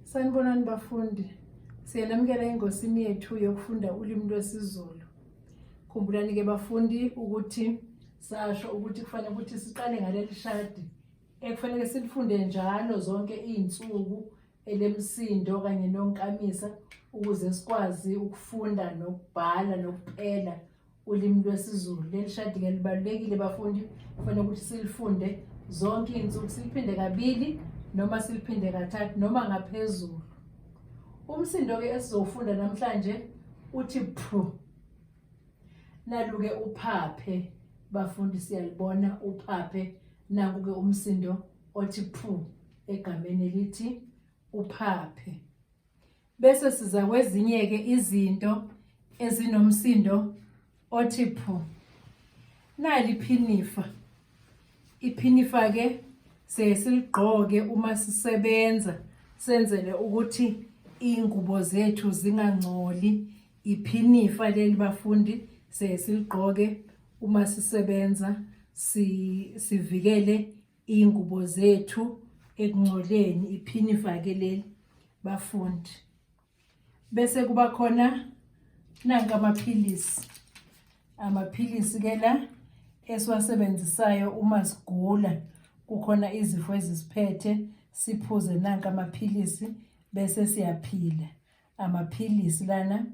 Sanibonani bafundi. Siyanamukela engosini yethu yokufunda ulimi lwesiZulu. Khumbulani ke bafundi ukuthi sasho ukuthi kufanele ukuthi siqale ngaleli shadi ekufanele silifunde njalo zonke izinsuku elemsindo kanye nonkamisa ukuze sikwazi ukufunda nokubhala nokupela ulimi lwesiZulu. Leli shadi-ke libalulekile bafundi, kufanele ukuthi silifunde zonke iy'nsuku, siliphinde kabili noma siliphinde kathathu noma ngaphezulu. Umsindo-ke esizowufunda namhlanje uthi phu. Nalu-ke uphaphe, bafundi siyalibona uphaphe, naku-ke umsindo othi phu egameni elithi uphaphe. Bese siza kwezinye-ke izinto ezinomsindo othi phu. Nali iphinifa. Iphinifa-ke siye siligqoke uma sisebenza senzele ukuthi iy'ngubo zethu zingangcoli. Iphinifa leli bafundi siye siligqoke uma sisebenza sivikele iy'ngubo zethu ekungcoleni iphini ifake leli bafundi bese kuba khona nanka amaphilisi amaphilisi ke la esiwasebenzisayo uma sigula kukhona izifo ezisiphethe siphuze nanka amaphilisi bese siyaphila amaphilisi lana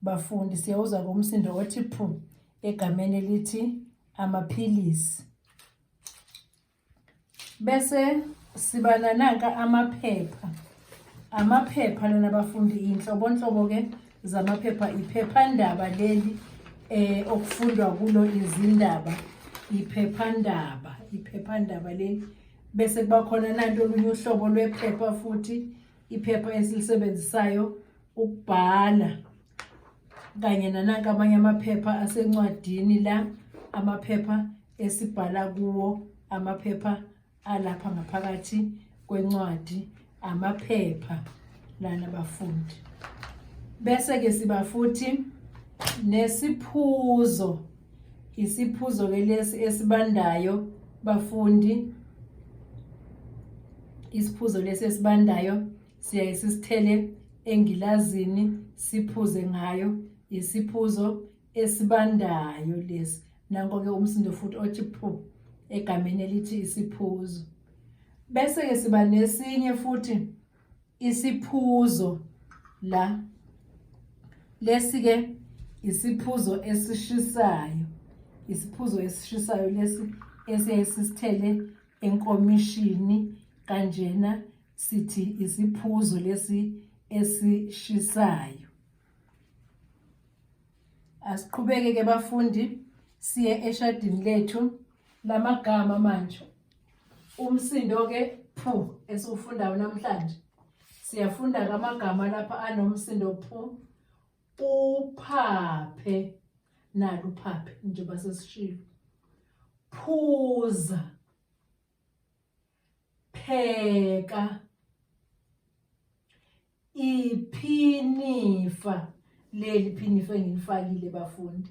bafundi siyawuza komsindo othi phu egameni elithi amaphilisi bese siba nananka amaphepha amaphepha lona bafundi iy'nhlobonhlobo-ke zamaphepha iphephandaba leli eh okufundwa kulo izindaba iphephandaba iphephandaba leli bese kuba khona nanto olunye uhlobo lwephepha futhi iphepha esilisebenzisayo ukubhala kanye nananka amanye amaphepha asencwadini la amaphepha esibhala kuwo amaphepha alapha ngaphakathi kwencwadi amaphepha lana bafundi bese ke siba futhi nesiphuzo isiphuzo ke lesi esibandayo bafundi isiphuzo lesi esibandayo siyaye sisithele engilazini siphuze ngayo isiphuzo esibandayo lesi nanko-ke umsindo futhi othi phu egameni elithi isiphuzo bese-ke siba nesinye futhi isiphuzo la lesi-ke isiphuzo esishisayo isiphuzo esishisayo lesi esiyaye sisithele enkomishini kanjena sithi isiphuzo lesi esishisayo asiqhubeke ke bafundi siye eshadini lethu lamagama manje umsindo ke phu esiwufundayo namhlanje siyafunda kamagama lapha anomsindo phu uphaphe naluphaphe njengoba sesishilo phuza pheka iphinifa leli phinifa engilifakile bafundi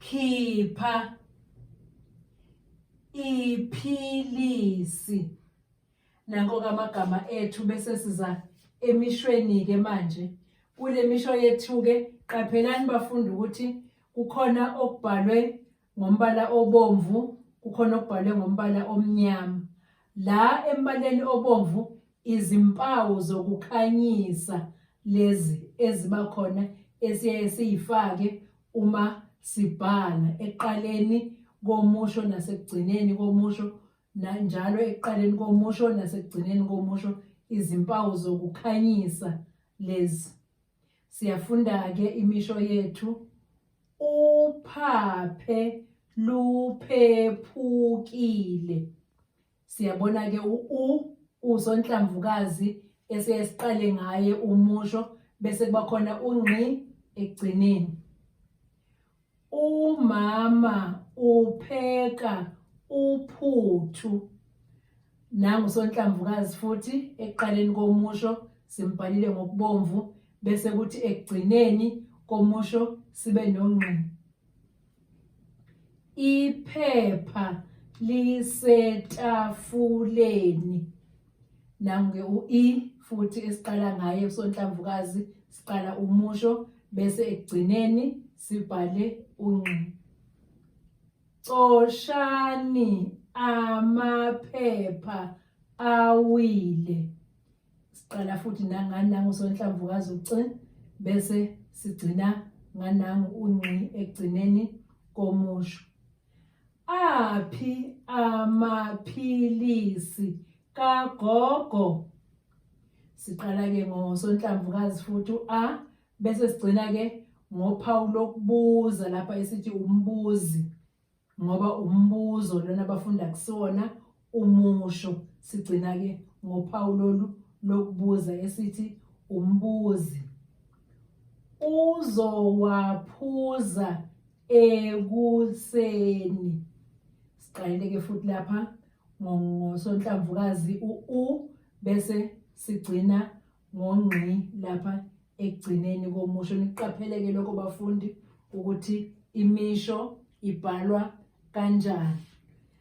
khipha iphilisi nanko kamagama ethu bese siza emishweni ke manje kule misho yethu ke qaphelani bafundi ukuthi kukhona okubhalwe ngombala obomvu kukhona okubhalwe ngombala omnyama la embaleni obomvu izimpawu zokukhanyisa lezi eziba khona esiyaye siyifake uma sibhala eqaleni komusho nasekugcineni komusho nanjalo ekuqaleni komusho nasekugcineni komusho izimpawu zokukhanyisa lezi Siyafunda-ke imisho yethu uphaphe luphephukile. Siyabona-ke u-u usonhlamvukazi esiye siqale ngaye umusho bese kuba khona ungqi ekugcineni. Umama upheka uphuthu. Nangu sonhlamvukazi futhi ekuqaleni komusho simbhalile ngokubomvu bese kuthi ekugcineni komusho sibe nongqi. Iphepha lisetafuleni. Nangu-ke u-E futhi esiqala ngaye usonhlamvukazi siqala umusho bese ekugcineni sibhale unqi. Coshani amaphepha awile. Siqala futhi nangani nangusonhlamvukazi uci bese sigcina nganangu unqi ekugcineni komusho. Aphi amaphilisi kagogo? Siqala ke ngosonhlamvu kazi futhi u-a bese sigcina ke ngophawu lokubuza lapha esithi umbuzi ngoba umbuzo lona abafunda kusona umusho sigcina ke ngophawu lolu lokubuza esithi umbuzi uzowaphuza ekuseni siqalile ke futhi lapha ngosonhlamvukazi u bese sigcina ngongqi lapha ekugcineni komusho niqapheleke lokho bafundi ukuthi imisho ibhalwa kanjani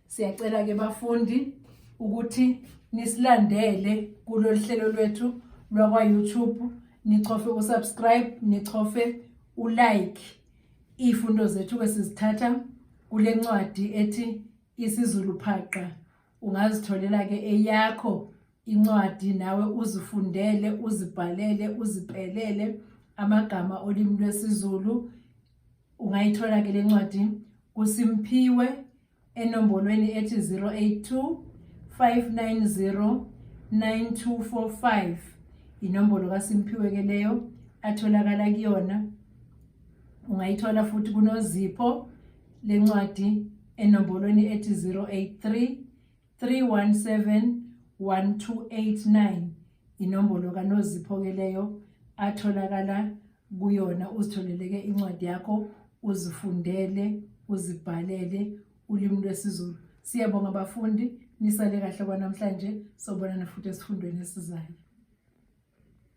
siyacela ke bafundi ukuthi nisilandele kulolu hlelo lwethu lwakwa-youtube nichofe usubscribe nichofe ulike iy'fundo zethu-ke sizithatha kule ncwadi ethi isizulu phaqa ungazitholela-ke eyakho incwadi nawe uzifundele uzibhalele uzipelele amagama olimi lwesiZulu ungayithola ke lencwadi kuSimphiwe enombolweni ethi 082 590 9245 inombolo kaSimphiwe ke leyo atholakala kuyona ungayithola futhi kunozipho lencwadi enombolweni ethi 083 317 1289 inombolo kanozipho ke leyo atholakala kuyona uzitholeleke incwadi yakho uzifundele uzibhalele ulimi lwesiZulu siyabonga abafundi nisale kahle kwanamhlanje sobonana futhi esifundweni esizayo